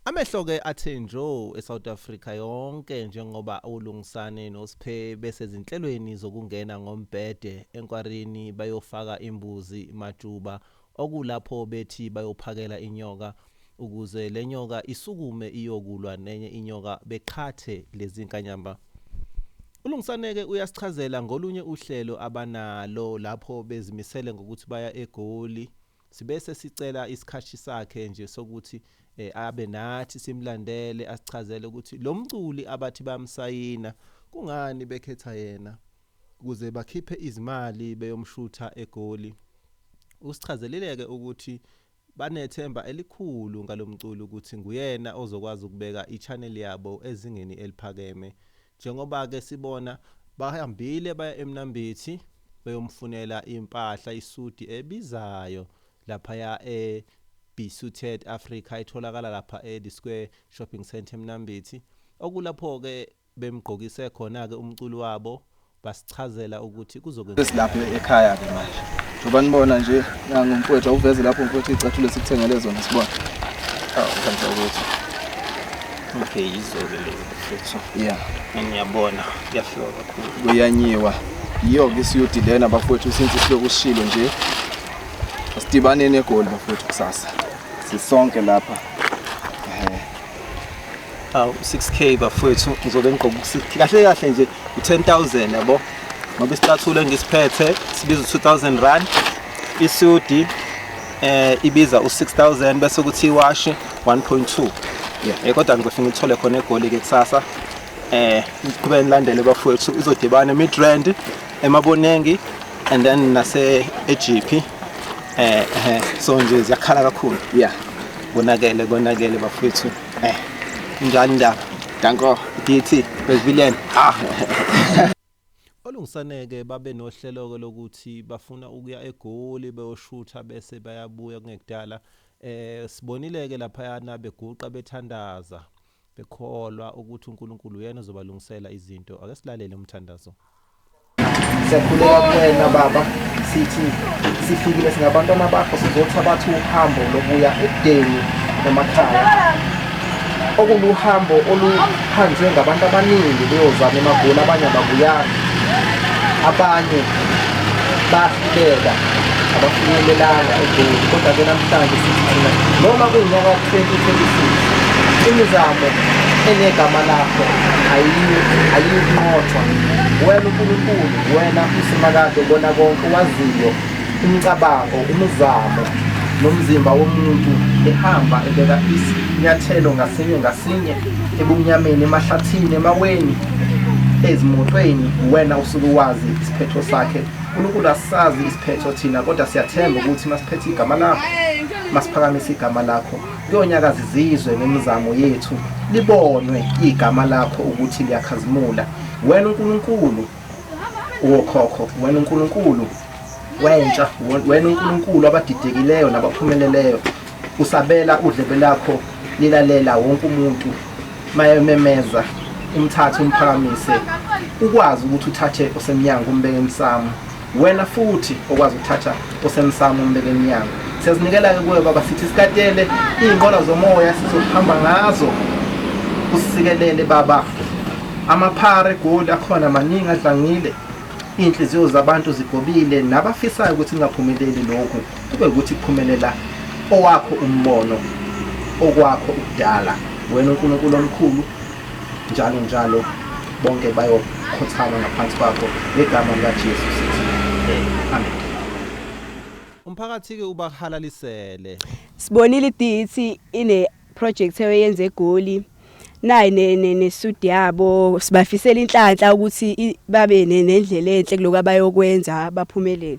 Amehlo ke athe njo eSouth Africa yonke njengoba uLungisani noSphe besezinhlelweni zokungena ngombhede enkwarini bayofaka imbuzi majuba okulapho bethi bayophakela inyoka ukuze lenyoka isukume iyokulwa nenye inyoka beqhathe lezinkanyamba. ULungisane ke uyasichazela ngolunye uhlelo abanalo lapho bezimisele ngokuthi baya eGoli Sibe sesicela isikhathi sakhe nje sokuthi eh, abe nathi simlandele asichazele ukuthi lo mculi abathi bamsayina kungani bekhetha yena ukuze bakhiphe izimali beyomshutha egoli. Usichazelile-ke ukuthi banethemba elikhulu ngalomculi ukuthi nguyena ozokwazi ukubeka i-channel yabo ezingeni eliphakeme Njengoba ke sibona bahambile baya eMnambithi beyomfunela impahla isudi ebizayo laphaya e Bisuted Africa etholakala lapha e The Square Shopping Centre eMnambithi okulapho ke bemgqokise khona ke umculi wabo chazela ukuthi kuzokwenzeka sesilapha ekhaya ke manje njengoba nibona nje nangu mfowethu awuveze lapho mfowethu icathulo esikuthengele zona sibona awu kanti ukuthi okay yizoke lezi mfowethu yeah ngiyabona kuyafika kakhulu kuyanyiwa yiyo ke isiyudi lena bafowethu since isiloku usishilo nje asidibaneni egoli bafowethu kusasa sisonke lapha awu 6k bafowethu ngizobe ngigqoka u-6k kahle kahle nje u-10000 yabo ngoba isicathulo engisiphethe sibiza u-2000 rand isudi eh ibiza u6000 bese kuthi iwashi 1.2 yeah eh, kodwa ngizofika ngithole khona egoli ke kusasa eh ngiqhubeke nilandele bafowethu izodibana emidrand emabonengi and then nase eGP eh, eh so nje ziyakhala kakhulu yeah konakele konakele bafowethu Eh, njani ndaba? Danko. DT, Brazilian. Ah. Olungisaneke babe nohlelo-ke lokuthi bafuna ukuya eGoli beyoshutha bese bayabuya kungekudala. Eh sibonile-ke laphayana beguqa bethandaza bekholwa ukuthi uNkulunkulu uyena ozobalungisela izinto. Ake silalele umthandazo. siyakhuleka kuwena baba sithi sifikile singabantwana bakho sizothabatha uhambo lokuya ekudeni emakhaya okuluhambo oluhanjwe ngabantu abaningi beyozama emagoli abanye ababuyanga abanye bahluleka abafinyelelanga egoli kodwa ke namhlanje sithi thina noma kunyaka 2026 imizamo enegama lakho ayiyinqothwa Wena uNkulunkulu, wena uSimakade ubona konke, owaziyo umcabango, umzamo nomzimba womuntu ehamba ebeka isinyathelo ngasinye ngasinye ebumnyameni, emahlathini, emaweni, ezimotweni, wena usuke wazi isiphetho sakhe. UNkulunkulu asazi isiphetho thina kodwa siyathemba ukuthi masiphethe igama lakho, masiphakamisa igama lakho. Kuyonyakaza izizwe nemizamo yethu, libonwe igama lakho ukuthi liyakhazimula. Wena uNkulunkulu wokhokho, wena uNkulunkulu wentsha, wena uNkulunkulu abadidekileyo nabaphumeleleyo, usabela udlebe lakho lilalela wonke umuntu mayememeza umthathe umphakamise ukwazi ukuthi uthathe osemnyango umbeke emsamo Wena futhi okwazi ukuthatha osemsamo umbelenyango siyazinikela-ke kuwe baba sithi sikatele iy'nqola zomoya sizohamba ngazo usikelele baba amaphara egoli akhona maningi adlangile iy'nhliziyo zabantu zigobile nabafisayo ukuthi kungaphumeleli lokhu kube ukuthi kuphumelela owakho umbono okwakho ukudala wena unkulunkulu omkhulu njalo njalo bonke bayokhothama ngaphansi kwakho ngegama likaJesu sithi amen umphakathi-ke ubahalalisele sibonile i-DET ine project eyenze egoli nayi nesudi yabo sibafisela inhlanhla ukuthi babe nendlela enhle kuloku abayokwenza baphumelele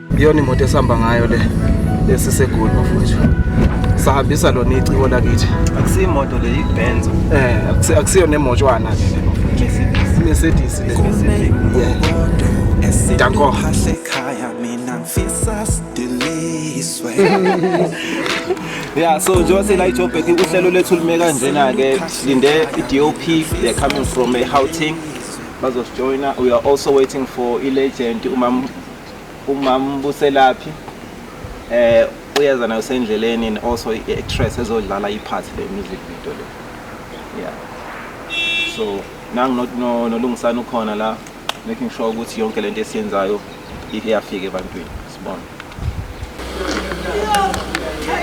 iyona imoto esihamba ngayo le esisegoli bafowethu sahambisa lona iciko lakithi akusiyo imoto le ibenzo eh akusi- akusiyo nemotshwana ke le bafowethu. mercedes le Yeah. Danko. ekhaya mina ngifisa sidiliswe ya so njengoba sela ijobek uhlelo lethu lume kanjena-ke silinde i-dop they're coming from ehouteng bazosijoyina we are also waiting for i-legend umam umambuselaphi eh uyeza nayo sendleleni and also i-actress ezodlala i-part le music video le yeah so nangu not no nolungisana ukhona la making sure ukuthi yonke lento esiyenzayo iyafika ebantwini sibona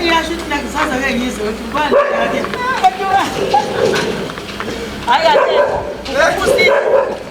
iyasho ukuthi nakusaza ke ngizwe ukuthi ubani yake hayi kahle ukusini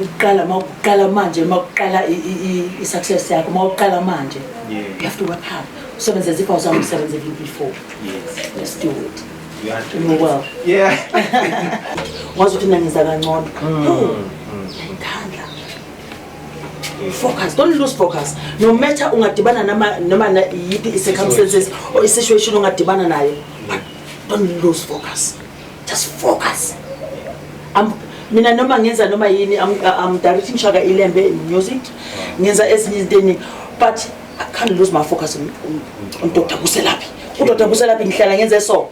ukuqala uma ukuqala manje uma ukuqala i-success yakho uma ukuqala manje you have to work hard usebenze zipha uzama umsebenze before yes. let's do it ngokwabo yeah wazi ukuthi nangenza kangcono mm. focus don't lose focus no matter ungadibana nama noma yiphi i-circumstances or i-situation ongadibana nayo but don't lose focus just focus I'm, mina noma ngenza noma yini I'm, I'm directing shaka ilembe in music ngenza ezinye izinto eningi but I can't lose my focus on, on, on Dr. Buselaphi uDr. Buselaphi ngihlala ngenze so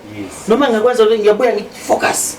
noma ngakwenza ngiyabuya ngifocus